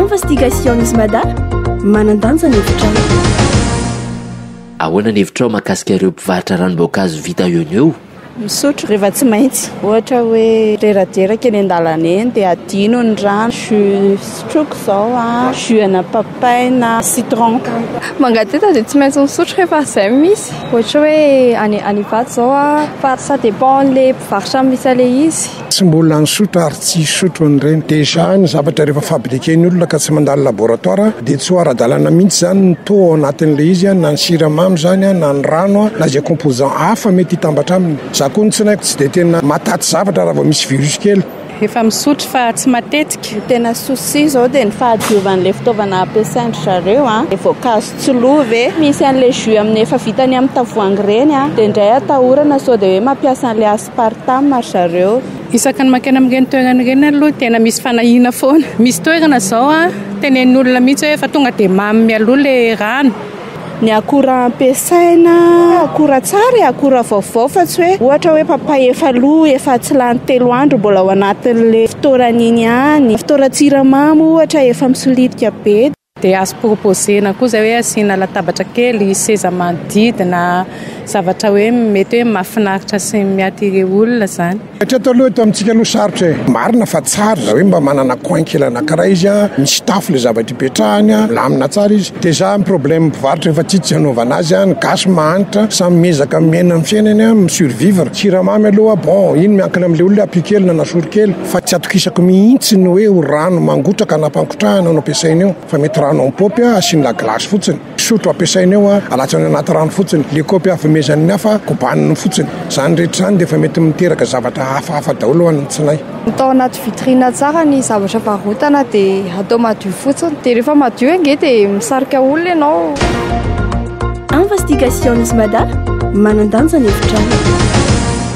Investigation is Mada, manan-danja ny hevitrao. Ahoana ny hevitrao makasika ireo mpivarotra ranom-boankazo vita eo no eo? Misotro rehefa tsy maintsy. Ohatra hoe reraderaka eny an-dalana eny dia adino ny rano, jus sotroiko izao a, jus ana papay na citron. Mangateta dia tsy maintsy misotro rehefa izay no misy. Ohatra hoe any any Ivato izao a, fa ça dépend an'ilay mpivarotra misy an'ilay izy. Tsy mbola nisotro ary tsy hisotro an'ireny. Déjà ny zavatra rehefa fabriquer ny olona ka tsy mandalo laboratoire dia tsy ho ara-dalana mihitsy izany ny taux ao anatin'ilay izy an, na ny siramamy izany na ny rano na izay composant hafa mety hitambatra aminy. Za koa ny tsinaiko tsy dia tena mataty zavatra raha vao misy virus kely. Efa misotro fa tsy matetika. Ny tena souci izao dia ny fahadiovan'ilay fitaovana ampiasain-dry zareo an, ilay voankazo tsy lo ve? Misy an'ilay jus amin'ny efa vita ny amin'ny tavoahangy ireny an, dia indray atahorana sao dia hoe mampiasa an'ilay part time ry zareo. Isaka ny makena amin'ireny toerana ireny aloha tena misy fanahiana foana. Misy toerana izao tenenin'olona mihitsy hoe efa tonga dia mamy mialoha ilay rano. Ny akora ampiasaina, akora tsara e, akora vaovao fa tsy hoe ohatra hoe papay efa lo, efa tsy lany telo andro mbola ao anatin'ilay fitoeran'iny ihany. Fitoeran-tsiramamy ohatra efa misolitika be. Dia azo proposer-na koa izay hoe asiana latabatra kely, seza manodidina, zavatra hoe mety hoe mahafinaritra sy mi-attirer olona izany. Hatreto aloha eto amintsika aloha sarotra e! Marina fa tsara raha hoe mba manana coin kely anankiray izy an, misy tafo ilay zavatra ipetrahany an, milamina tsara izy, dia zany problème mpivarotra efa tsy tsy hanaovana azy an, ny gasy mahantra, samy miezaka miaina ny fiainany an, mi-survivre, siramamy aloha bon iny miankina amin'ilay olona hoe apio kely na nasoro kely. fa tsy atokisako mihitsy ny hoe ho rano mangotraka na ampangotrahana no ampiasaina eo fa mety rano amin'ny kaopy asiany la glace fotsiny, sotro ampiasaina eo, alatsany anaty rano fotsiny, le kaopy avomezan'ny hafa kobaniny fotsiny, zany rehetra zany dia efa mety miteraka zavatra hafahafa daholo ho an'ny tsinay. Atao anaty vitrine tsara ny zavatra varotana dia atao madio fotsiny dia rehefa madio ange dia misarika olona ianao. Investigations Mada, manan-danja ny hevitrao.